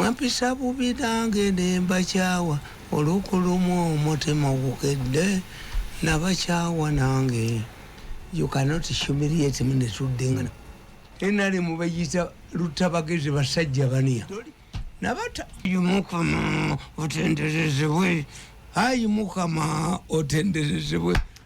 Mwampisa bubi nange ne mbakyawa oluku lumu omutima ogukedde nabakyawa nange you cannot humiliate me netuddingana nrm beyita lutabagezi basajja baniya nabata ayi mukama otenderezebwe ayi mukama otenderezebwe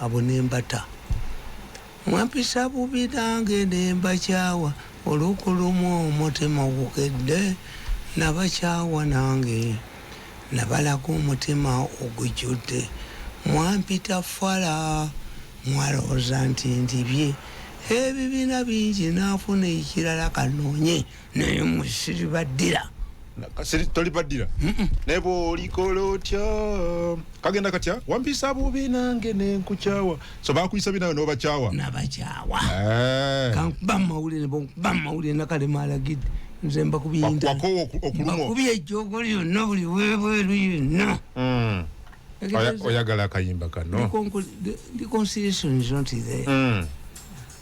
Abo ne mbata. Mwampisa bubi nange ne mbakyawa oluku lumu omutima ogukedde nabakyawa nange nabalaga omutima ogujjudde. Mwampita fala mwalowooza nti ndibye ebibina bingi nafuna ekirala kanoonye. naye musiri baddira kasiri toli baddira naye bwolikola otya kagenda katya wampisa bubi nange nenkukyawa so bakuyisa bi nawe nobakyawa nabakyawa eh. kankuba mumawulire bankuba mumawulire nakalema alagidde nze mbakubiyindakubiya ejjogo lyonna buli webweru yonna hmm. oyagala akayimba kano reconciliation is not there mm.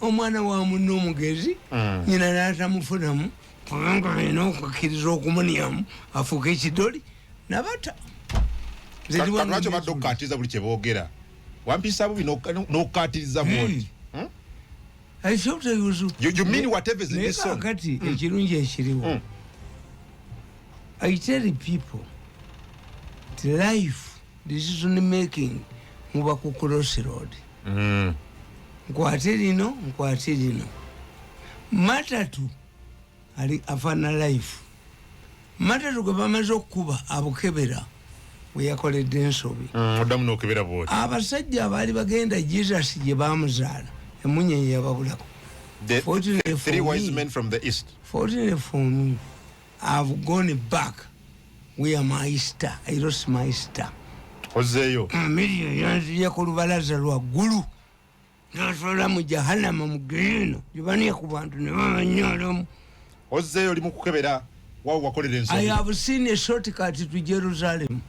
omwana wa munne omugezi mm. nyina natamufunamu kubanga alina okukkiriza okumunyamu afuuka ekidoli nabata lwaki badde okukatiriza buli kyebogera wampisa bubi nokukatiriza bwoti hmm. hmm? kakati hmm. ekirungi ekiriwo i tell people life decision making muba ku cross road mm. nkwate lino nkwate lino matatu ali afana life matatu gwe bamaze okukuba abukebera weyakoledde ensobi mm, oddamu mm, nokebera bwoti abasajja abaali bagenda jesus gye bamuzaala emunyenye yababulako fortunately for me I've gone back where my sister, I lost my sister. Ozeyo. Miriyo yanziye ku lubalaza lwa gulu. Nasola mu jahannama mu gino. Jibani ku bantu ne bamanyolo. Ozeyo limu kukebera wao wakolera ensobi. I have seen a shortcut to Jerusalem.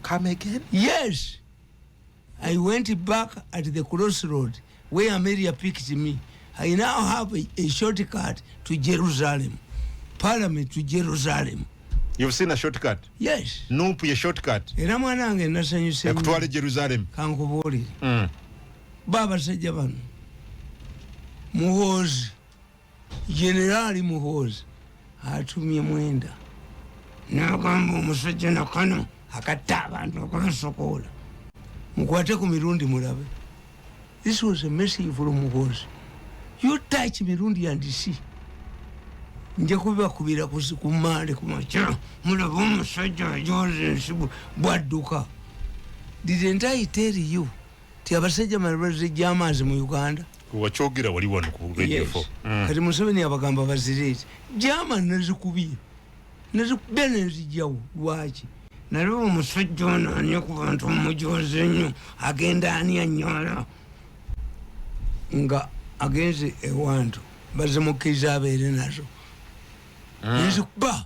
Come again? Yes. I went back at the crossroad where Amelia picked me. I now have a, a shortcut to Jerusalem. Parliament to Jerusalem. You've seen a shortcut? Yes. Nupu ya shortcut. Ila mwanange nasanyu senu. Ya kutuwale Jerusalem. Kankubori. Mm. Baba sajabanu. Muhozi. Generali Muhoozi atumye Mwenda n'agamba omusajja na kano akatta abantu okubasokoola mukwate ku mirundi mulabe this was a message from Muhoozi you touch mirundi and see nja kubibakubira ku maale ku makya mulaba omusajja ajoza ensi bwadduka didn't i tell you ti abasajja malibazijja amaazi mu uganda wakyogera wali wano ku radio 4 mm. kati museveni abagamba bazireeti jama nazikubiye nazikubiye nezijawo lwaki nali omusajja ono ani ku bantu omujozi nnyo agenda ani anyola nga agenze ewantu bazimukkiriza abeere nazo mm. nzikuba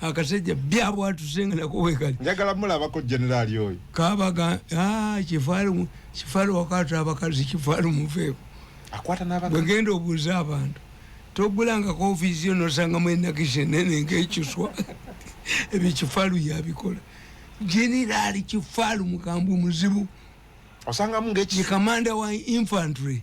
akasajja byabwatusenga nako wekali njagala mulabako generali oyo kabaga ah, kifalu kifalu wakati abakazi kifalu mufeeko akwata n'abakazi bwegenda obuuza abantu togulangako ofiisi yo nosanga mwenakishe nene ngekiswa ebyo kifalu yabikola generali kifalu mukambwe muzibu osangamu ngekikamanda wa infantry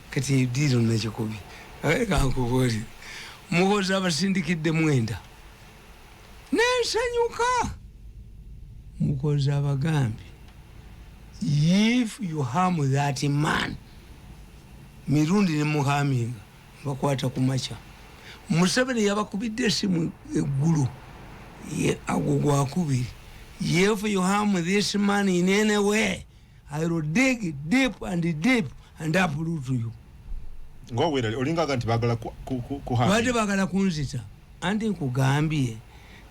Kati diiro nakikubi aye kankubuulire muhoza abasindikidde mwenda nensanyuka mukozi abagambye if you harm that man mirundi nemuhaminga bakwata ku makya museveni yabakubidde esimu eggulu agwo gwakubiri if you harm this man in any way I will dig deep and deep and uproot you. Ngo wera olinga ganti bagala ku ku ku handi. Wadi bagala kunzita. Andi nkugambie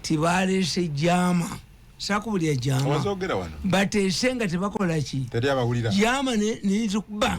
tibale se jama. Saku buli jama. Wazogera wano. Bate senga tibakola chi. Tedi abawulira. Jama ne ni zukuba.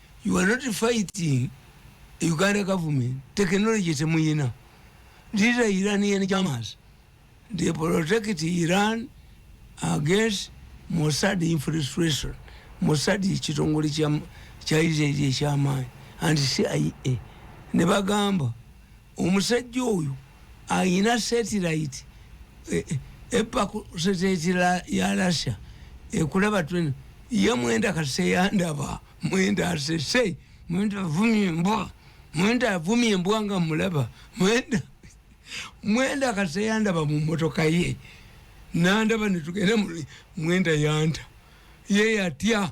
you are not fighting uganda government technology temuyina these are iranian jamas they protect iran against mossad infiltration mossad kitongole kya israeli ekyamaanyi and cia ne bagamba Omusajja oyo alina satellite eh, eh, epaku satellite ya Russia ekulaba twena ye mwenda kaseyandaba mwenda asese mwenda avumye embwa mwenda avumye embwa nga mulaba mwenda mwenda kaseyandaba mu motoka ye nandaba netugenda mwenda yanta ye yatya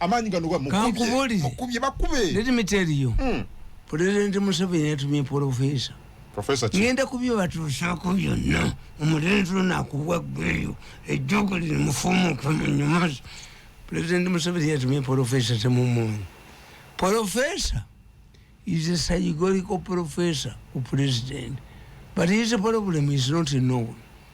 amaanyi gano gamukubye bakube let me tell you mm. president museveni yatumye profesa ngenda kubyo batuusaako byonna omulenzi ono akubwa gweyo ejjogo lino mufumuuke munyumazi president museveni yatumye profesa temumumanyi profesa is a psychological professor u president but his problem is not known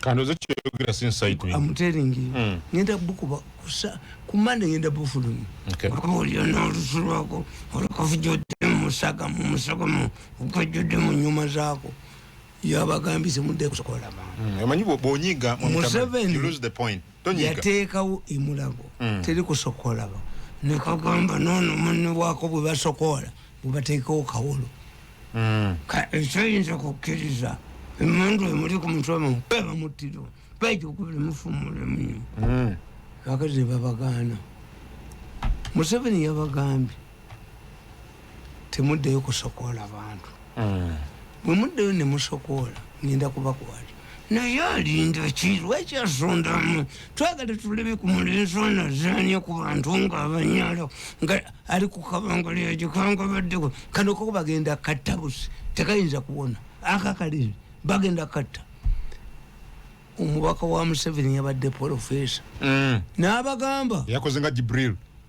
kandoze kyoyogera si inside me i'm telling you mm. ngenda bukuba kusa kumande ngenda bufulumi okay oli ona olusulwako olukafujode musaga mumusaga mu ukajode mu nyuma zako yabagambise mudde kusokola ba mm. emanyi bonyiga mu seven you lose the point yateekawo emulago mm. teri kusooka olaba nekagamba noono munne waako bwe basokoola bwe bateekawo kawolo mm. ekyoyinza okukkiriza emundu emuli ku mutwe mu bebamuttira baija okubira mufumulemu mm. kakati nebabagaana museveni yabagambye temuddeyo kusokoola bantu mm. bwe muddeyo ne musokoola ngenda kubakwata naye alinda ki lwaki asondamu twagala tuleme ku mulenzi ono azanya ku bantu nga abanyalo nga ali ku kabangalo yagikanga baddeko kano koko bagenda katta busi tekayinza kuwona akakaliri bagenda katta omubaka wa museveni yabadde polofesa mm. n'abagamba yakoze nga jibril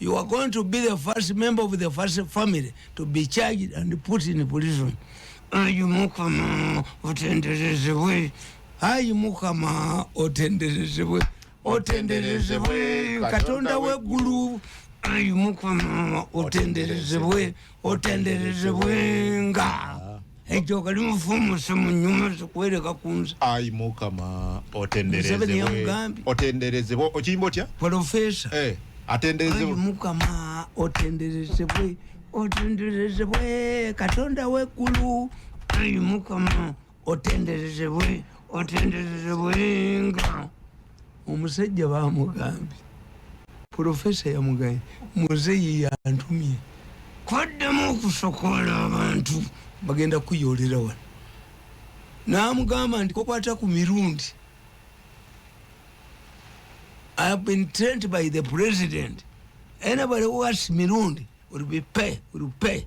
you are going to be the first member of the first family to be charged and put in prison ayi mukama otenderezebwe ayi mukama otenderezebwe otenderezebwe katonda weggulu ayi mukama otenderezebwe otenderezebwenga ekyo kali mufumuse munyuma zikuwereka kunza ayi mukama otenderezebwe okiyimba otya polofesa eh, atenderezebwe mukama otenderezebwe otenderezebwe katonda wekulu ayi mukama otenderezebwe otenderezebwenga omusajja bamugambye profesa yamugaye muzeyi yantumye kwaddemu okusokola abantu bagenda kuyolera wano namugamba nti kokwata ku mirundi i have been trained by the president anybody who asks mirundi will be pay will pay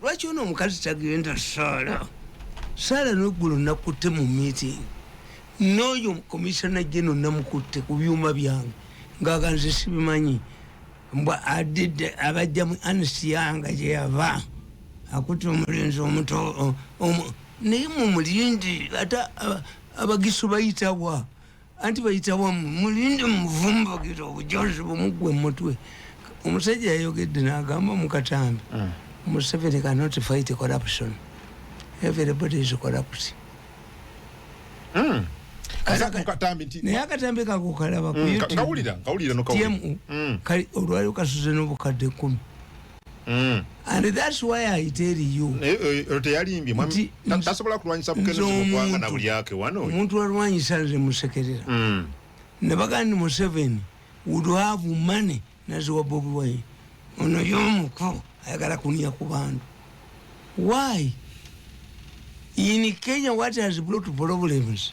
lwaki ono omukazi tagenda saala saala noggulo nakutte mu meeting n'oyo komisana geno namukutte ku byuma byange ngaaganze sibimanyi mbwa adidde abajja mu ansiyanga gyeyava akutte omulenzi omuto naye mumulindi ate abagisu bayitawa anti bayita wamu mulinde muvumbagira obujozi bumugwe mumutwe omusajja yayogedde nagamba mukatambi mm. museveni cannot fight corruption everybody is corrupt mm. naye akatambi kakukalaba mm, kutmu kali olwalio kasuze nobukadde kumi mm. and that's why i tell you teyalimbye mwami tasobola kulwanyisa bukene zobwanga na bulyake wano omuntu alwanyisa nze musekerera mm. ne bagandi mu seven would have money naziwa bobi wine ono yomuko ayagala kunia ku bantu why in kenya what has brought problems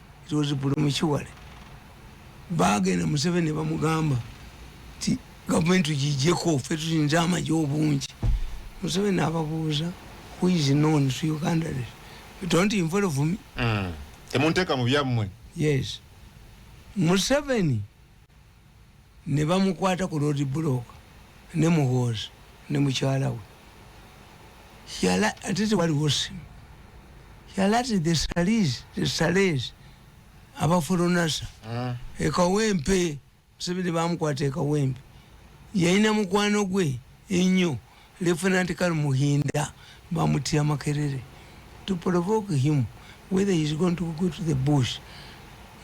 it was premature bagenda museveni nebamugamba ti gavumenti tugijeko fe tulinze amaje obungi museveni ababuuza who is known to uganda don't involve me mm. temunteka mu byammwe yes museveni ne bamukwata ku road block ne muhoozi ne mukyala we yala ate tewaliwo simu yalati the salis the salis abaforonasa ah. ekawempe museveni bamukwata ekawempe yalina mukwano gwe ennyo lieutenant kal muhinda bamutira makerere to provoke him whether he is going to go to the bush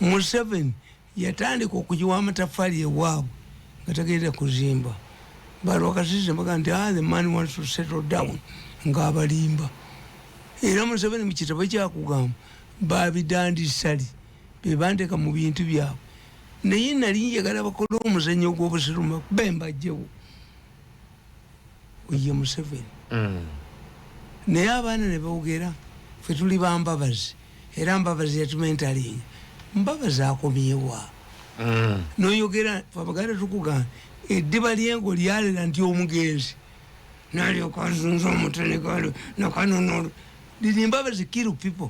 museveni yatandika okugiwa amataffaali ewaabwe nga tagenda kuzimba balwakasize baga nti ah, the man wants to settle down ng'abalimba era museveni mu kitabo kyakugamba babidandisali bebanteeka mu bintu byabwe naye nali njagala bakole omuzanyo gw'obusirumaku bembajjewo oye museveni mm. naye abaana nebogera fe tuli bambabazi era mbabazi yatumentalinga mbabazi akomyewa mm. noyogera abaganda tukugamba eddiba lyengo lyalera nti omugenzi nalyokanzunza omutenegalo nakanonolo liri mbabazi kiru people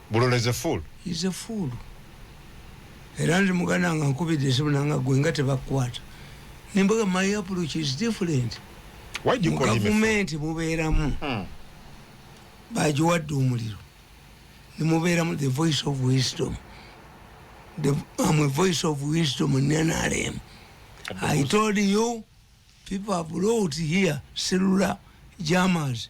Bulola is a fool. Is a fool. Era ndi mugana nga nkubidde esimu nanga gwe nga tebakwata. Nimbaga my approach is different. Why do you call him a fool? Mugavumenti mubeeramu. Hmm. Bagiwadde omuliro. Nimubeeramu the voice of wisdom. The, I'm a voice of wisdom in NRM. I told you people have wrote here cellular jammers.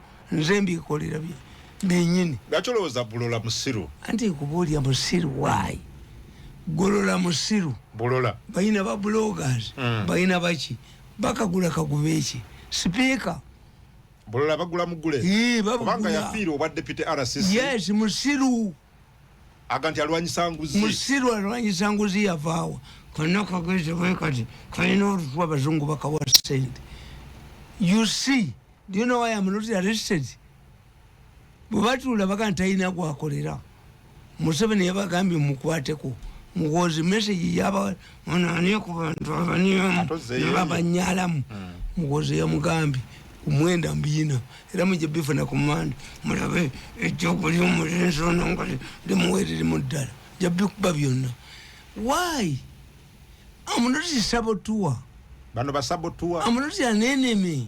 nze mbikolera bye benyini gacolowoza bulola musiru anti kubulya musiru why golola musiru bulola bayina ba bloggers mm. bayina baki bakagula kagube eki speaker bulola bagula mugule ee bagula kubanga yafiiri obwa deputy RCC yes musiru aganti alwanyisa nguzi musiru alwanyisa nguzi yavawa konna kageze bwekati kalina olutwa abazungu bakawa sente you see Do you know why I'm not arrested? Bwebatuula baga ntalina gwakolera. Museveni yabagambye mukwateko. Muwozi message yaba onani ku bantu abanyalamu. Hmm. Muwozi yamugambye kumwenda mbiyina era mujja bifuna ku manda mulabe ekyokulya omulenzi ono nga limuwerere mu ddala ja bikuba byonna why amunoti sabotuwa bano basabotuwa amunoti aneneme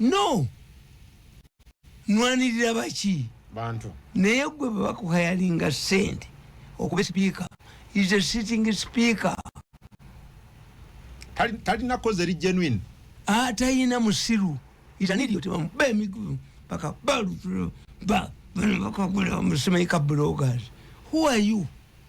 no nwanirira baki bantu naye gwe bwebakuhayalinga sente okuba sipiika is a sitting speaker talina koze eri genuine atayina ah, musiru itaniryotebamuba emigubu paka balutula ba bano bakagula musemaika bloggers who are you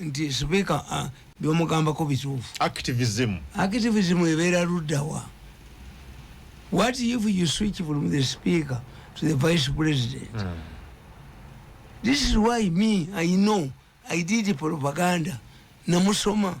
nti sipiika byomugambako bituufu activism activism ebeera luddawa what if you switch from the speaker to the vice president mm. this is why me i know i did propaganda namusoma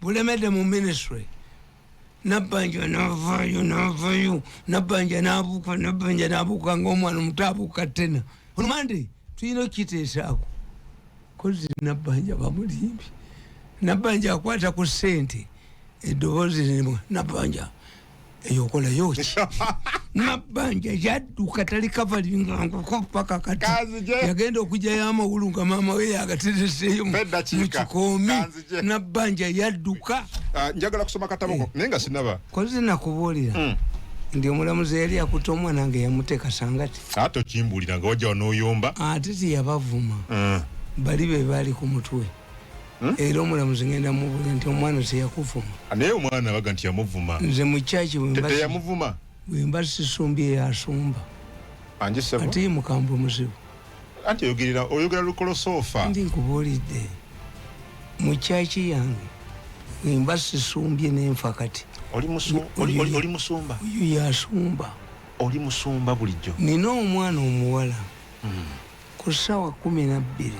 bulemedde mu ministry nabbanja navayo navayo nabbanja nabuuka nabbanja nabuuka ngaomwana omuto abuuka tena olumande tulina okukiteesaako kozi nabbanja bamulimbi nabbanja akwata ku sente eddoboozi limu nabbanja eyo okolayo ki mabanja yadduka tali kavalinga nkuko paka kati yagenda okujayo amawulu nga maama we yagatereseeyo mu kikoomi nabanja yadduka ah, njagala kusoma kataboko eh. naye nga sinaba kozi nakubuulira hmm. ndi omulamuzi yali akuta omwana nga yamuteeka sangati ate okimbuulira nga wajja wanoyomba ate tiyabavuma hmm. bali be baali ku mutwe Hmm? era omulamuzi ngenda mubuuza nti omwana ose yakuvuma ah, naye omwana abaga nti yamuvuma nze mukyaki wemuvuma bwemba sisumbi eyo asumba ate ye mukambwe muzibu anti oyogerera oyogera lukolosoofa ndi nkubuulidde mukyaki yange wemba sisumbye nenfa kati oli musumba oyo yasumba oli musumba bulijjo nina omwana omuwala hmm. Ku ssaawa kkumi na bbiri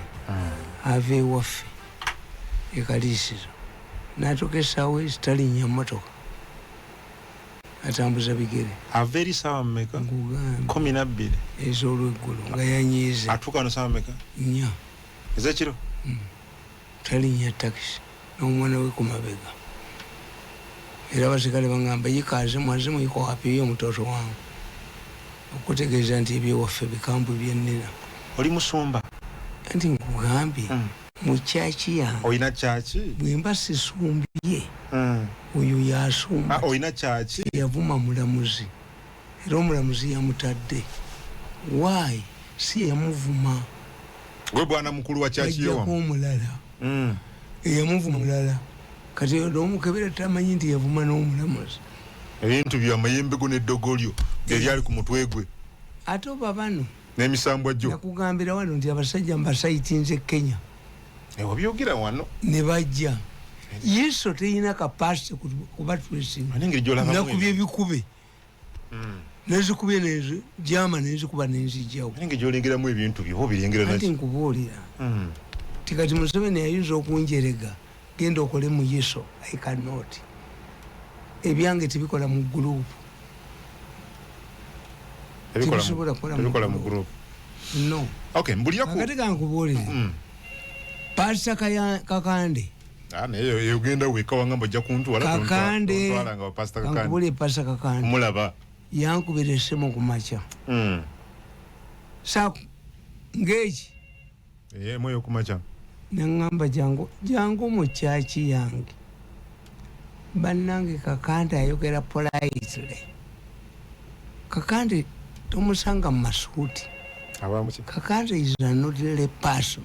ava ewaffe e Kaliisizo n'atuuka essaawa ezi talinnya mmotoka, atambuza bigere. Ava eri ssaawa mmeka? Kkumi na bbiri. Ez'olweggulo nga yanyiize. Atuuka wano ssaawa mmeka? Nnya. Ez'ekiro? Talinnya takisi n'omwana we ku mabega era abasirikale bang'amba, Yika Azimu, Azimu yika wapi? Yiyo mutoto wangu. Okutegeeza nti eby'ewaffe bikambwe bye nnina. Oli musumba? Anti nkugambye mu church yange. Olina church? Bwe mba sisumbye, oyo y'asumba. Olina church? Teyavuma mulamuzi. Era omulamuzi yamutadde why si yamuvuma gwe bwana mukulu wa church yo wamu omulala mm. eyamuvuma mulala kati omukebera tamanyi nti yavuma n'omulamuzi ebintu byo amayembe go n'eddogo lyo eryali ku mutwe gwe ate oba bano n'emisambwa gyo nakugambira wano nti abasajja mbasayitinze kenya ewa byogera wano ne bajja yesu teyina kapasite kubatwesinga nakubye bikube nezikubye nenzi jama nenzikuba nenzijawo naye ngejolengeramu ebintu byo obilengera naki kati nkubuulira mm. ti kati museveni ayinza okunjerega genda okole mu yeso i cannot ebyange tebikola mu gurupu tebisobola kukola mu gurupu no okay mbulira ku kati kankubuulire mm. pasita kakande Ah, naye yo- yo genda weka wanga mbu ojja kuntwala tontwa- kakande tontwala nga bapasita kakande kankubule pasa kakande kumulaba yankubira esimu ku makya Mm. sa ng'eki Eh, mweyo kumakya neŋŋamba jangu jangu mu kyaki yange bannange kakande ayogera politely kakande tomusanga mu masuuti abamuki kakande is anodly person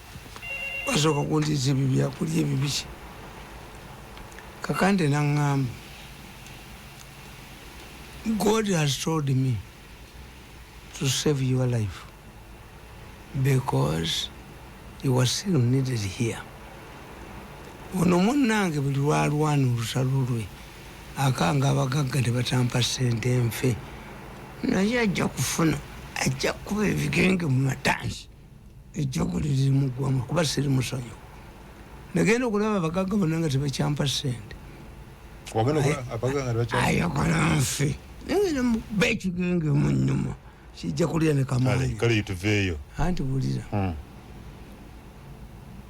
basooka kundiza ebyo byakulya ebibiki kakande naŋŋamba god has told me to save your life because you are still needed here ono munnange buli lwalwana olusalo lwe akanga abagagga ne batampa sente nfe naye ajja kufuna ajja kukuba ebigenge mu matansi ejjogo liri muggwamu kuba siri musonyiwo nagenda okulaba abagagga bonna nga tebakyampa sente ayagala nfe nagenda muba ekigenge mu nyuma kijja kulya ne kamaanyi anti bulira hmm.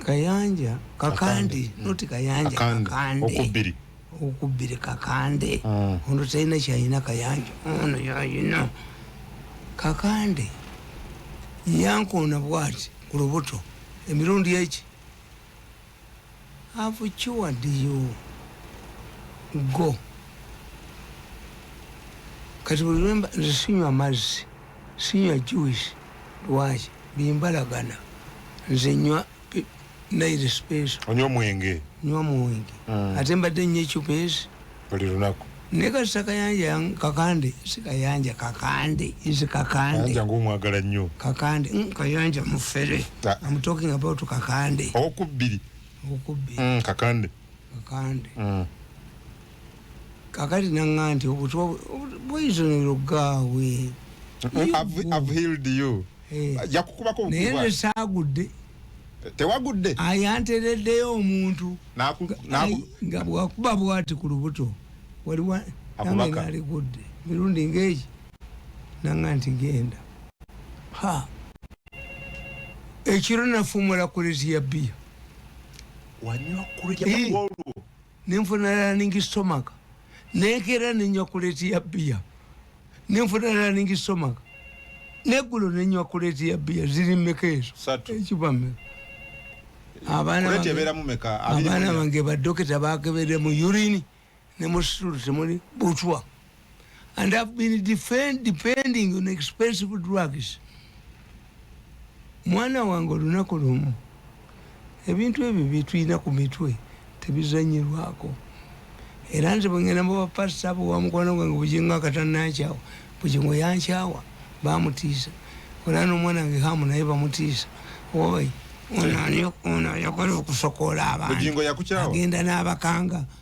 kayanja kakandi hmm. noti kayanja kakandi okubbire kakande mm. ono talina kyalina kayanja ono yalina kakande yankoona bwati ku lubuto emirundi eki avukiwadiyo go kati buli lwemba nze sinywa mazzi sinywa juice lwaki bimbalagana nze nywa naire space onywa mwenge nywa mwenge mm. ate mbadde nnyo ecupa ezi buli lunaku ne kasita kayanja kakande si kayanja kakande is kakande kayanja ng'omwagala nnyo kakande mm, kayanja mufere ah. am talking about kakande okubbiri okubbiri mm, kakande kakande mm. kakati nanga nti obutwa bweyisonero ogaawe naye nesaagudde tewagudde ayantereddeyo omuntu nga bwakuba bwati ku lubuto waliwo nange naligudde mirundi ngaegi nanga nti genda ha ekiro nafumula kuleti ya bbiya wanywa kuleti ya bbiya nenfuna running stomach nekeera nenywa kuleti ya bbiya nenfuna running stomach neggulo nenywa kuleti ya bbiya ziri mmeka ezo ekiba mmeka abaana bange badokita bakebere mu urini ne mu situlu temuli butwa and have been defend, depending on expensive drugs mwana wange olunaku lumu ebintu ebyo byetulina ku mitwe tebizanyirwako era nze bwengenda mubapasita abo wamukwano gwange bujingo akatanakyawa bujingo yankyawa bamutiisa era nomwana wange hamu naye bamutiisa oyo ono ayagala okusokola abantu agenda n'abakanga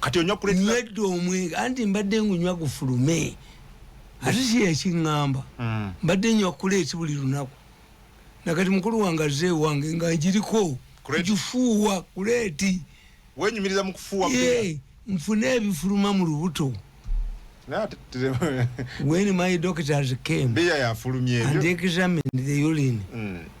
kati onywa kuleta nywedde omwenge anti mbadde ngunywa gufulume ate si yakiŋŋamba mm. mbadde nywa kuleeti buli lunaku nakati mukulu wange azze ewange nga ngiriko kugifuuwa kuleeti wenyumiriza mu kufuuwa nfune ebifuluma mu lubuto when my doctors came and examined the urine mm.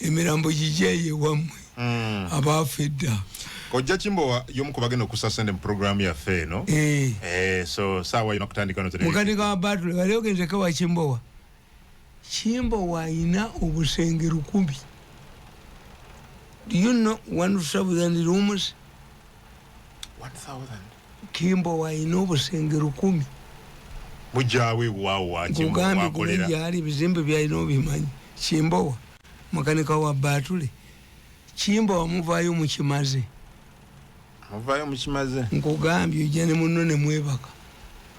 emirambo gigyeyo ewammwe mm. abaafa edda kojja kimbowa yomu ku bagenda okusa sente mu puroguramu yaffe eno eh. Eh, so saawa yona kutandika mukadde ka batule wali ogendeko wa kimbowa kimbowa ayina obusenge lukumi do you know one thousand rooms one thousand Kimbowa alina obusenge lukumi. Mujjawe waawo wakimu wakolera. Nkugambye guma gyali ebizimbe byalina obimanyi. Kimbowa makanika wa batule. Kimbowa muvayo mukimaze. Muvayo mukimaze. Nkugambye ojja ne munno ne mwebaka.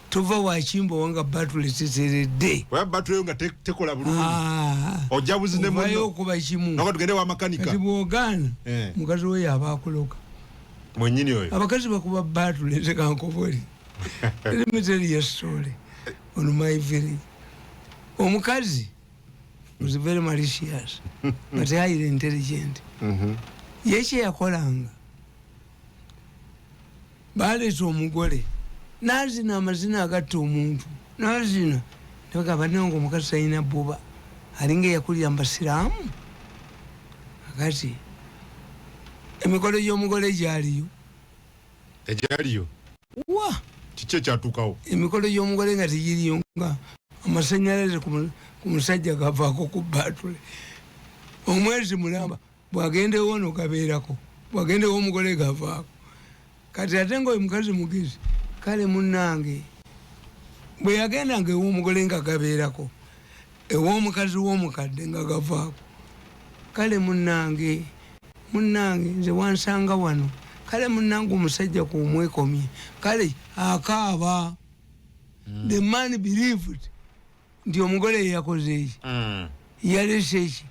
Tova wa Kimbowa nga batule teteredde. Oya batule nga te, tekola bulungi. Ah. Ojja buzine munno. Ovayo okuba kimu. Nako tugende wa makanika. Kati bwogana. Eh. Mukazi we yabakuloka. mwenyini oyo abakazi bakuba batu leze kankoboli let me tell you a story on my village omukazi was very malicious but highly intelligent mm-hmm. yekye yakolanga baleeta omugole nazina amazina agatta omuntu nazina nebagamba nange omukazi talina buba alinga eyakulira mu basiraamu Akati emikolo gy'omugole gyaliyo egyaliyo wa kiki ekyatuukawo emikolo gy'omugole nga tegiriyo nga amasanyalaze ku musajja gavaako ku baatule omwezi mulamba bwagendewo no gabeerako bwagendewo omugole gavaako Kati ate nga oyo mukazi mugezi kale munange bwe yagenda nga ew'omugole nga gabeerako ew'omukazi w'omukadde nga gavaako kale munange munange nze wansanga wano kale munange omusajja ku omwekomye kale akaaba mm. the man believed nti omugole yeyakozeeki mm. yaleseki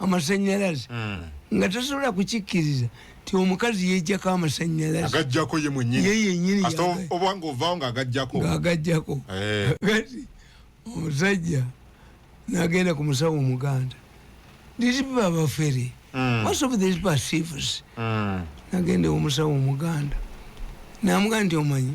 amasanyalaze mm. nga tasobola kukikkiriza ti omukazi yejjako amasanyalaze agajjako ye mwenyini ye yenyini obwanga ovaawo nga agajjako nga agajjako eh. kati omusajja nagenda ku musawo omuganda these people are very mm. most of these perceives mm. nagende omusawo omuganda namuga nti omanyi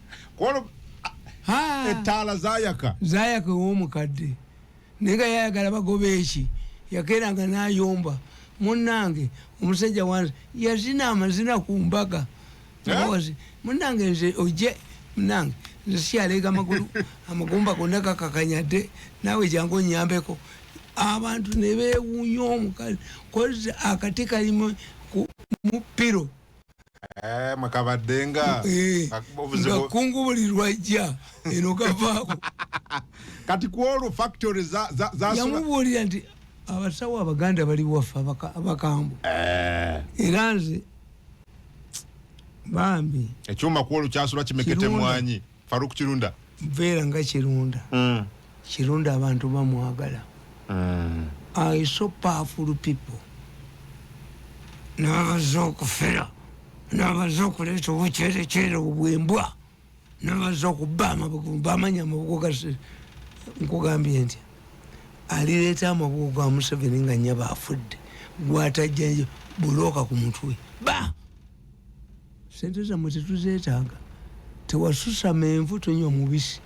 kwolwo ettaala zayaka zayaka ew'omukadde naye nga yayagala bagoba eki yakeranga nayomba munange omusajja wange yazina amazina ku mbaga eh? munange nze oje munange nze sikyaleega amagulu amagumba gonna gakakanyadde naawe jangu onyambeko abantu ne bewuunya omukazi kozi akati kalimu mu piro eh, mwekabaddenga eh, nga kungu buli lwajja eno kavaako kati kwolwo factory yamubuulira nti abasawo abaganda bali waffe abakambwe eh. era nze bambi ekyuma kwolwo kyasula kimekete mwanyi Farouk Kirunda Vera nga Kirunda mm. Kirunda abantu bamwagala mm. I so powerful people nabaza okufera nabaza okuleeta obucerekyere obwembwa nabaza okuba amabugu bamanya amabugu gasi nkugambye nti alireeta amabugu ga museveni nga nyaba afudde gwatajja bulooka ku mutwe ba sente zamwe tetuzetaaga tewasusa menvu tunywa omubisi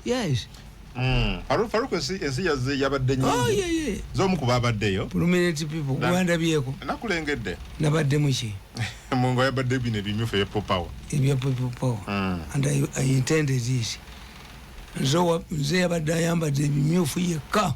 yes Mm. Faruk ensi ensi yaze yabadde nyingi. Oh yeah yeah. Zomu kuba abadde yo. Prominent people kuwanda byeko. Nakulengedde. Nabadde muki. Mungu yabadde bine bimyufu ya power. Ebya power. Mm. And I, I intended this. Nzo wa, nze yabadde ayambadde bimyufu yekka.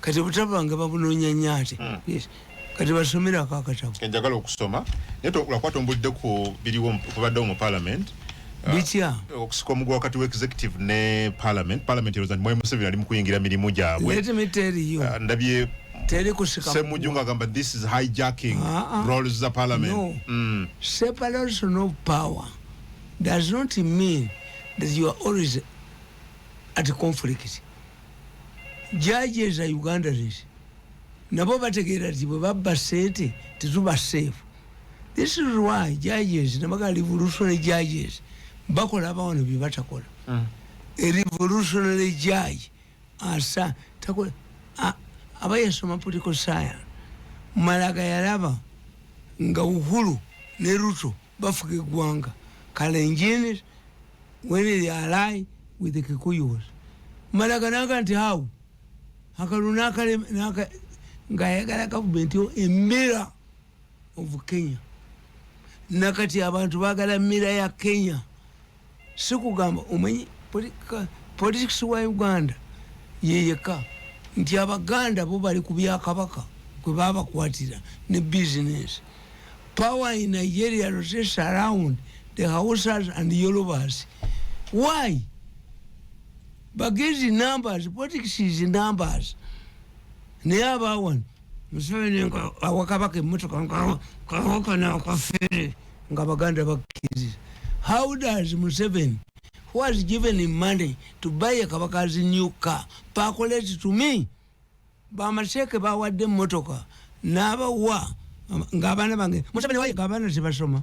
kati obutabanga babunonya nyo ate hmm. kati basomera ako akatabo enjagala okusoma naye tolakuba tombulidde ku biriwo kubaddewo mu parliament ah, bitya uh, okusika omugu wakati wexecutive ne parliament parliament eroza nti mwai museveni ali mukuyingira mirimu gyabwe ah, ndabye semujju nga agamba this is hijacking uh ah, -uh. roles za parliament no. mm. separation of power does not mean that you are always at conflict jaaja eza uganda zesi nabo bategeera ti bwebabba sente tetuba seefu this is why judges nabaga revolutionary judges bakola abawano byebatakola mm. a revolutionary judge asa takola aba yasoma political science malaga yalaba nga uhulu ne ruto bafuga eggwanga kalenjin when they ally with the kikuyus malaga naga nti how akalu nakale naka ngayagala gavumenti yo emira of kenya nakati abantu bagala mira ya kenya Sikugamba omanyi politics wa Uganda yeyeka nti abaganda bo bali ku byakabaka kwe babakwatira ne business power in Nigeria rotates around the Hausas and Yorubas why bagezi numbers politics is numbers naye abawano museveni nga awakabaka emotoka ngawakana akafere nga baganda bakkiriza how does museveni who has given him money to buy a kabaka's new car pakoleti to me bamaseeke bawadde emotoka n'abawa ng'abaana bange museveni wayiga abaana tebasoma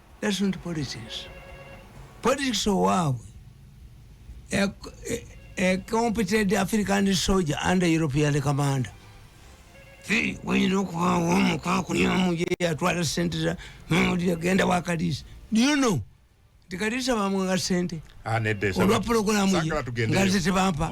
That's not politics. Politics owaabwe a, a, a competent African soldier under European commander wayina okubaawo omukwakulyamu yeyatwala sente za mawulire genda wa kaliisa do you know nti kaliisa bamwanga sente ah, olwa pulogulamu ye nga ze tebampa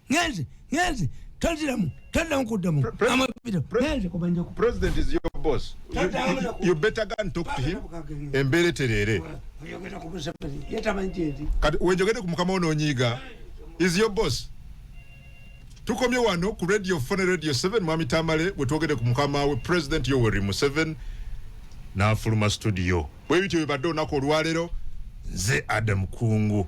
ngenze ngenze taziramu taddamu kuddamu amabiro ngenze kubanjako president is your boss you, you, you better go and talk to him embeera etereere kati wenjogede ku mukama ononyiiga is your boss tukomye wano ku radio fone radio 7 mwami tamale bwetwogede ku mukama we president yoweri museven nafuluma studio bwebityo bibadde olunaku olwalero nze adam kungu